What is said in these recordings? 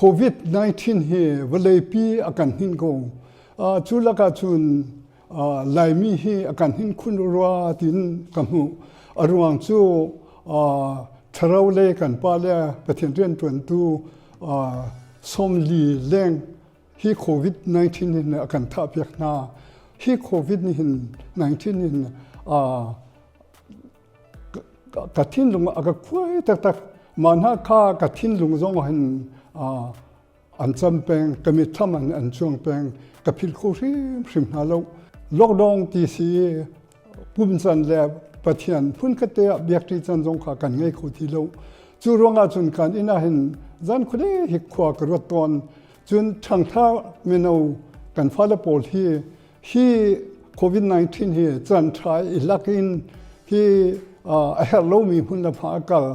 COVID-19 hi vawleipi a kan hnin ko. Uh, cu lakah cun uh, Laimi hi a kan hnin khun rua tiin ka hmuh. A ruang cu uh, tharo le kan pa le Pathian riantuantu uh, som li leng Hi COVID-19 hin a kan thahpiak hna. Hi COVID nih hin 19 hin aa ka thinlung a ka khuai taktak ma hna kha ka thinlung zong hin an cam peng ka mithlam an an chuang peng ka phil kho hrim hrim hna lo lockdown ti si pumsan le pathian phunkate ah biakṭi can zong kha kan ngei kho ti lo cu ruangah cun kan inn ah hin zan khuade hi khua ka ruat tawn cun ṭhangtha mino kan fale pawl hi hi covid-19 hi can ṭha i lak in hi a herh lomi hmun le fa a kal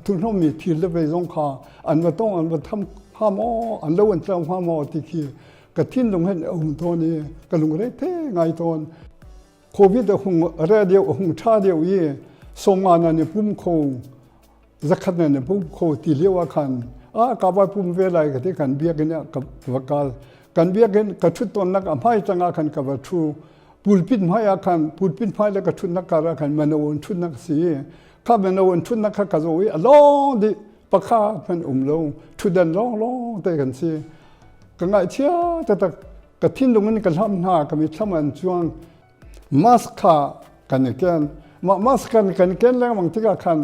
thuhnawmi thil le ve zong kha an va tong an va tham ha maw an lo an tlang ha maw ti khi ka thinlung hen a hung tawn i ka lungre the ngai tawn covid a hung re deu a hung tha deu i somma na ne pum kho zakhat na ne pum kho ti lewa khan a ka ba pum ve lai ka te kan biakin ka vakal kan biakin ka thut ton nak a mai tanga khan ka va thu pulpit mai a khan pulpit mai le ka thut nak kara khan mana on thut nak si kha mana on thut nak kha ka zo i a long di pakhat hmanh um lo ṭhutdan lawnglawng te kan si ka ngaihchia taktak ka thinlung in ka hlam hna ka mi thlam an chuang mask kha kan i ken mah mask kan kan ken lengmang tikah khan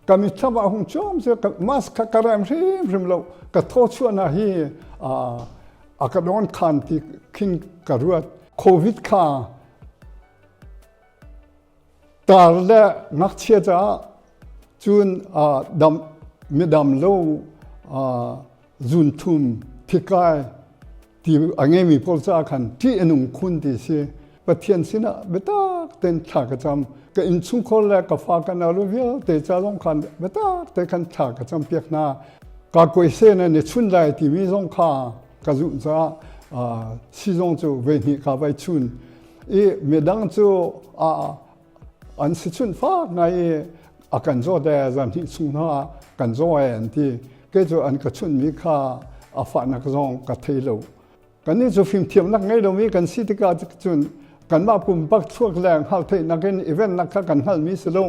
ka mi thlam ah hung chom se mask kha ka rem hrim hrim lo ka tho chuana hi a ka don khan ti khin ka ruat covid kha Tar le ngakchia caah cun dam, midam lo zuunthum, thikai ti a ngeimi pawl caah khan ṭih a nung khun ti si. Pathian sinah biatak tein thla ka cam. Ka innchungkhar le ka fa ka nalu vialte ca zong khan biatak tein khan thla ka cam piak hna. Ka kuaisen an i chun lai timi zong kha ka zumh caah sizong cu voi hnih ka vai chun. i midang cu an si chunh fak ngai i a kan zawt e zan hnih chung hna kan zaw e an ti kei cu an ka chunhmi kha a fahnak zong ka thei lo kannih cu fimthiamnak ngei lomi kan si tikah cun kanmah pumpak chuak le hngalh theihnak in event nak kha kan hngalmi si lo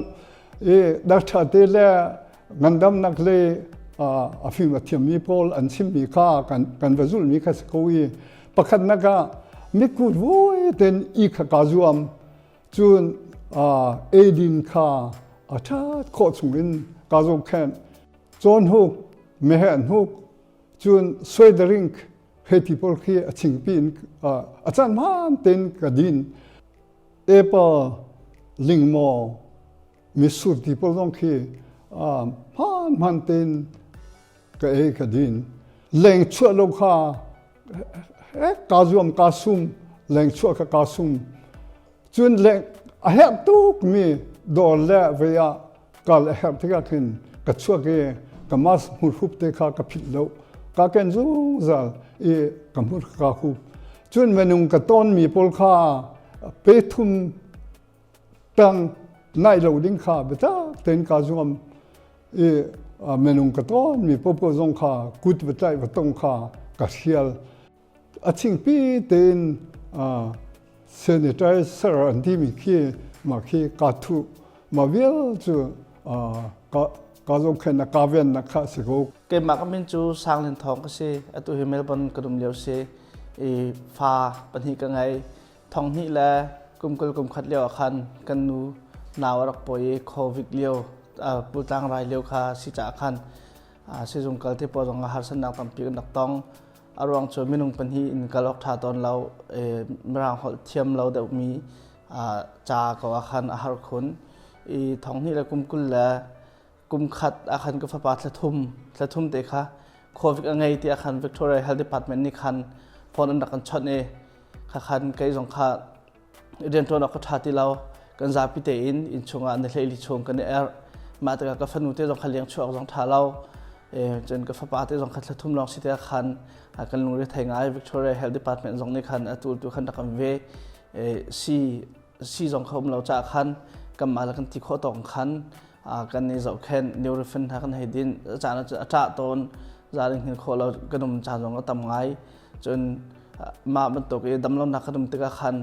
i dakṭha te le Ngandamnak le a fim a thiammi pawl an chimmi kha kan va zulhmi kha si ko i pakhatnak ah mitkut vuai ten i kha kaa zuam cun eidin kha a ṭhat khawh chungin kaa zohkhenh. Cawn huk, meheh hnuk, cun suederink he ti pawl khi a chingpi in a can hmaan ten ka din. Apple, lingmaw, Mitsur ti pawl zong khi hmaan hmaan tein ka ei ka din. Leng chuah lo kha kaa zuam kaa sum, leng chuah ka kaa sum. Cun leng a herh tukmi dawr le vei ah kal a herh tikah khin ka chuak i ka mas hmurhup te kha ka philh lo. Ka ken zungzal i ka hmur ka hup. Cun minung ka tawnmi pawl kha pe thum Tang naih lo ding kha biatak tein kaa zuam i minung ka tawnmi popo zong kha kut va tlaih va tong kha ka hrial. A chingpi tein sanitizer an timi khi mah khi kaa thuh. Mah vial cu kaa zohkhennak kaa vennak kha a si ko. Keimah ka min cu Sang Lin Thawng ka si. Atu hi Melbourne ka um lio si. I fa pahnih ka ngei. thong hnih le kum kul kum khat lio ah khan kan nu nau a rak pawi i covid lio pultlang rai lio kha si caah khan sizung kal te pawl zong ah harsannak tampi kan rak tong a ruang cu minung pahnih in kal awk ṭha tawn lo mirang holh thiam lo deuhmi ca ko ah khan a har khun i thong hnih le kum kul le kumkhat ahkhan ka fapa thlathum thlathum te kha covid a ngei tiah khan Victoria Health Department nih khan phone an rak kan chawnh i khakhan kei zong kha rianṭuan awk ka ṭha ti lo kan zapi tein inn chungah na hleili chung kan i er mah tikah ka fanu te zong kha liang chuak zong ṭha lo cun ka fapa te zong kha thlathum lawng si te khan kan lungre thei ngai Victoria Health Department zong nih khan a tu tu khan rak kan ve si si zong kha um lo caah khan kanmah le kan ti khawh tawk khan kan i zohkhenh neurofin hna kan hei din caan a ṭah tawn zaarin hin khawh lo kan um caan zong a tam ngai cun mah bantuk i damlonak kan um tikah khan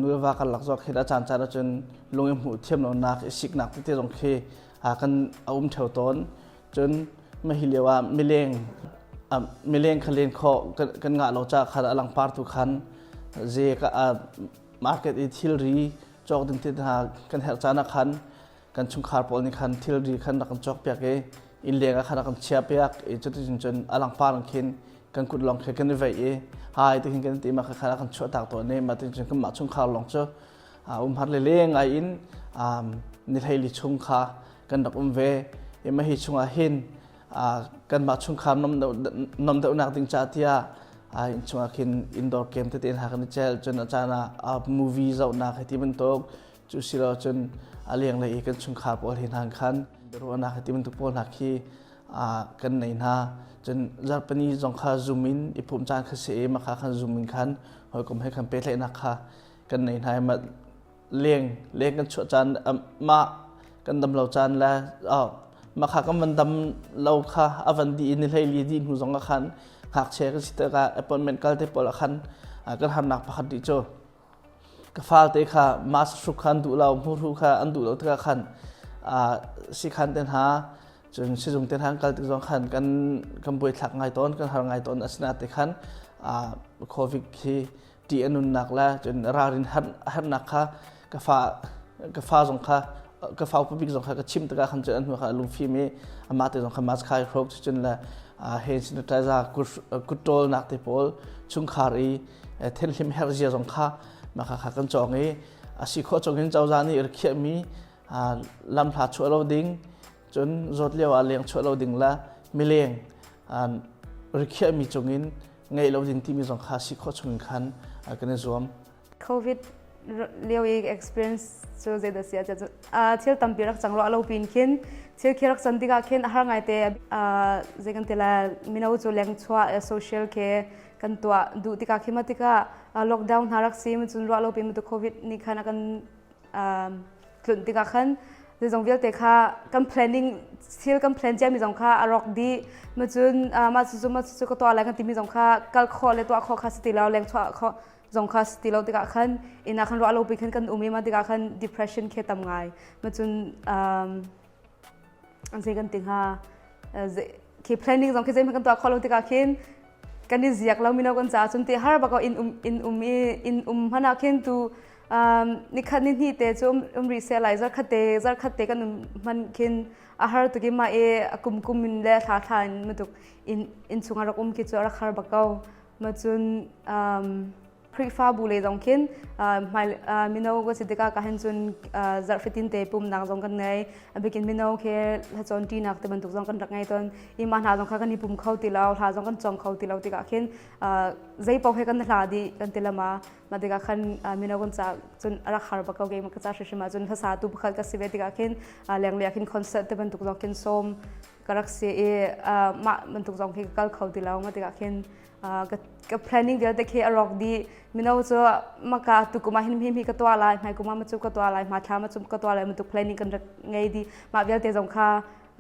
nuva kan lak zawk hi a caan caan cun lung i hmuh thiam lonak i siknak tete zong khi kan a um theo tawn cun mah hi lio ah mileng mileng kha len khawh kan ngah lo caah khan a langpar tu khan ze market i thilri cawk ding ti hna kan herh caan ah khan kan chungkhar pawl nih khan thilri khan rak kan cawk piak i inn leng ah khan rak kan chiah piak i cuticun cun a langpar in khin kan kut lawng khi kan i veih i hai ti hin kan ti ma kha rak kan chuah tak tawn i ma tin cun kan mah chungkhar lawng cu um har le leng ai in ni hlei li chung kha kan rak um ve i ma hi chungah hin kanmah chungkhar nom deuhnak ding ca tiah in chungah khin indoor game tete hna kan i celh cun a caan ah movie zohnak hi ti bantuk cu si lo cun a lenglei i kan chungkhar pawl hi hna khan ruahnak hi ti bantuk pawl hna khi kan nei hna cun zarhpani zong kha zoom in i pumh caan kha si i makha khan zoom in khan hawikom he khan pehtlaihnak kha kan nei hna i leng leng kan chuah caan mah kan dam lo caan le makha kan van dam lo kha a van di in hleili di hnu zong a khan ngakchia kan si tikah appointment kal te pawl a khan kan harnak pakhat di cu ka falte kha mas hruk khan duh lo muru kha an duh lo tikah khan si khan te hna cun sizung te hna kal tik zong khan kan kan buai thlak ngai tawn kan har ngai tawn asina te khan covid hi ṭih a nunnak le cun ralrin a herhnak kha ka fa ka fa zong kha ka fa upa bik zong kha ka chim tikah khan cun an hnu kha a lungfim i amah te zong kha mas khai hroak cu cun le hen sanitizer kutṭawl nak te pawl chungkhar i thenhlim herzia zong kha maka kha kan cawng i a si khawh chung hin cozah nih rikhiahmi lamhla chuah lo ding cun zawt lio ah leng chuah lo ding le mileng rikhiahmi cung in ngei lo ding timi zong kha si khawh chung in khan kan i zuam. Covid lio i experience cu zeidah si ah thil tampi rak cang lo lo pin khin thil khi rak son tikah khin har ngai te zei kan tila mino cu leng chua social ke kan tuah duh tikah khi matikah lockdown hna rak sim cun ruah lo pin tu covid ni khan kan tlunh tikah khan zeizong vialte kha kan planning thil kan plan ciami zong kha a rawk dih ma cun mah cucu mah cucu ka tuah lai kan timi zong kha kal khawh le tuah khawh kha si ti lo leng chuah khawh zong kha si ti lo tikah khan ina khan ruah lo pi khan kan um i ma tikah khan depression khi tam ngai ma cun an zei kan ti hnga khi planning zong khi zeihmanh kan tuah kho lo tikah khin kan i ziak lo mino kan caah cun ti har bako in um in um i in um hmana khin tu nikhat ni hni te cu um, um rih se lai zarkhatte zarkhatte kan um hman khin a har tuki ma e a kum kum in le thla thla in matuk in in chung a rak um ki cu a rak har bako ma cun um Khrihfabu le zong khin mino ka si tikah ka hen cun zarh fitin te pumnak zong kan ngei bikin mino ke hlacawn ṭi nak te bantuk zong kan rak ngei ton i mah hna zong kha kan i pum kho ti lo hla zong kan cong kho ti lo tikah khin zei paoh he kan hla di kan ti lama ma tikah khan mino kan ca cun rak har ba ko ke ma ka ca hrim hrim ah cun hlasa tu pakhat ka si ve tikah khin leng lea khin concert te bantuk zong khin som ka rak si i mah bantuk zong khi ka kal kho ti lo nga tikah khin ka planning vialte khi a rawk dih mino cu maka tu kuma hin hi ka tua lai mai kuma ma cu ka tua lai ma thla ma cu ka tua lai bantuk planning kan rak ngei di mah vialte zong kha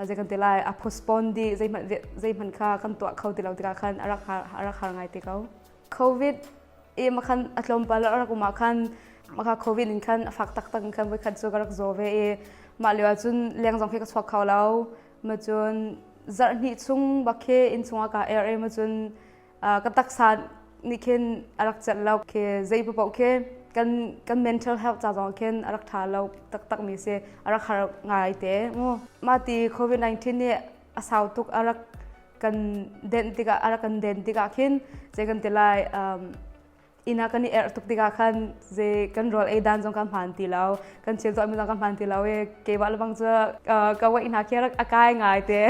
zei kan ti lai a postpone di zei hman zei hman kha kan tuah kho ti lo tikah khan a rak har ngai te ko covid em a khan a tlawmpal a rak um ah khan maka covid in khan a fak taktak in khan voikhat cu ka rak zaw ve i mah lio ah cun leng zong khi ka chuak kho lo ma cun zarh hnih chung bak khi inn chung ah ka er i ma cun ka taksa nih khin a rak celh lo khi zei paoh khi kan kan mental health ca zong khin a rak ṭha lo taktak mi si a rak har ngai te mu mah ti covid 19 nih a sau tuk a rak kan den tikah ara kan den tikah khin je kan ti lai um, ina kan i er tuk tikah khan je kan rol ei dan zong ka hman ti lo kan thil to mi zong ka hman ti lo e ke wa lebang cu ka wei hna khi rak akai ngai te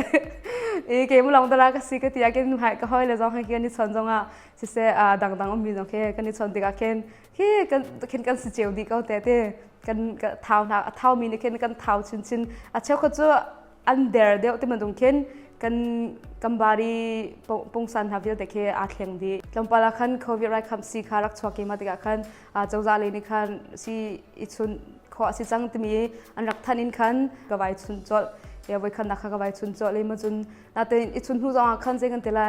i ke mu long dara ka si ka tia ken hai ka hoi le zong ha ke ni chon zong a si se dang dang um mi zong ke kan i chon tikah khin hi kan khin kan si cheu di ko te te kan thau na thau mi ni khin kan thau chin chin a cheu ko cu an der deuh ti bantuk khin kan kambari pungsan hna vialte khi aa thleng dih tlawmpal ah khan covid rai kham si kha rak chuak i mah tikah khan cozah lei nih khan si i chun khawh a si cang timi an rak thanh in khan ka vai chun colh ya voi khan nakha ka vai chun colh le ma cun na te i chun hnu zong ah khan zei kan tela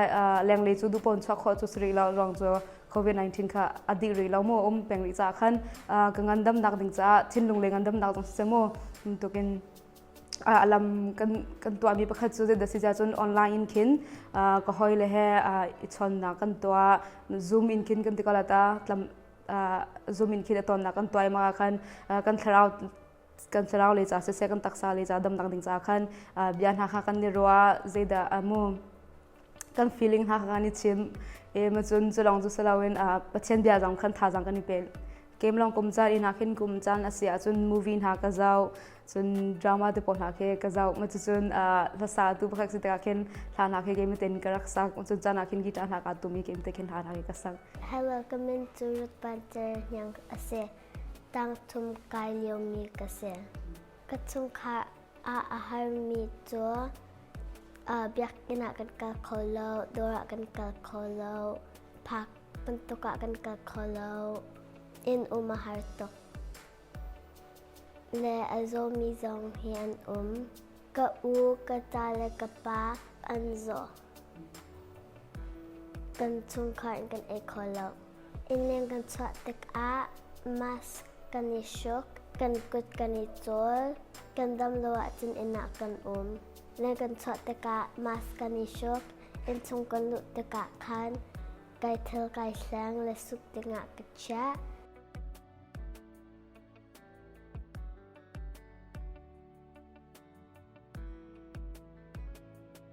lenglei cu dupon chuak khawh cu sri lo rong cu covid-19 kha a dih rih lo mu um peng rih ca khan ka ngandam nak ding caah thinlung le ngandam nak zong si mu tukin a lam kan kan tuahmi pakhat cu zin si cun online in khin ka hoi le he i chonnak kan tuah zoom in khin kan ti ko la ta zoom in khin a tonnak kan tuai ma khan kan thlarau kan thlarau le ca siseh kan taksa le ca damnak ding ca khan bia hna kha kan ni ruah zeidah mu kan feeling ha kan i chim em cun cu lawng cu si loin pathian bia zong kan thazang kan i pe kem long kum caan ina khin kum caan a si ahcun movie hna ka zau cun drama te pawl hna khi ka zau ma cucun hlasa tu pakhat si tikah khin hla hna khi game ten ka rak sak cun caan ah khin guitar hna ka tu mi game te khin hla hna khi ka sak hello kamen cu rut pan ce hnyang a si tang thum kai lio mi ka si Ka chungkhar ah a harmi cu biakinn ah kan kal kho lo, dawr ah kan kal kho lo, park bantuk ah kan kal kho lo. Inn um a har tuk. Le a zawmi zong hi an um. Ka u, ka ca le ka pa an zaw. Kan chungkhar kan ei kho lo. Innleng kan chuah tikah mask kan i hruk, kan kut kan i cawl, kan dam lo ahcun inn ah kan um. Leng kan chuah tikah mask kan i hruk, innchung kan luh tikah khan kai thil kai hleng le suk dingah ka chiah.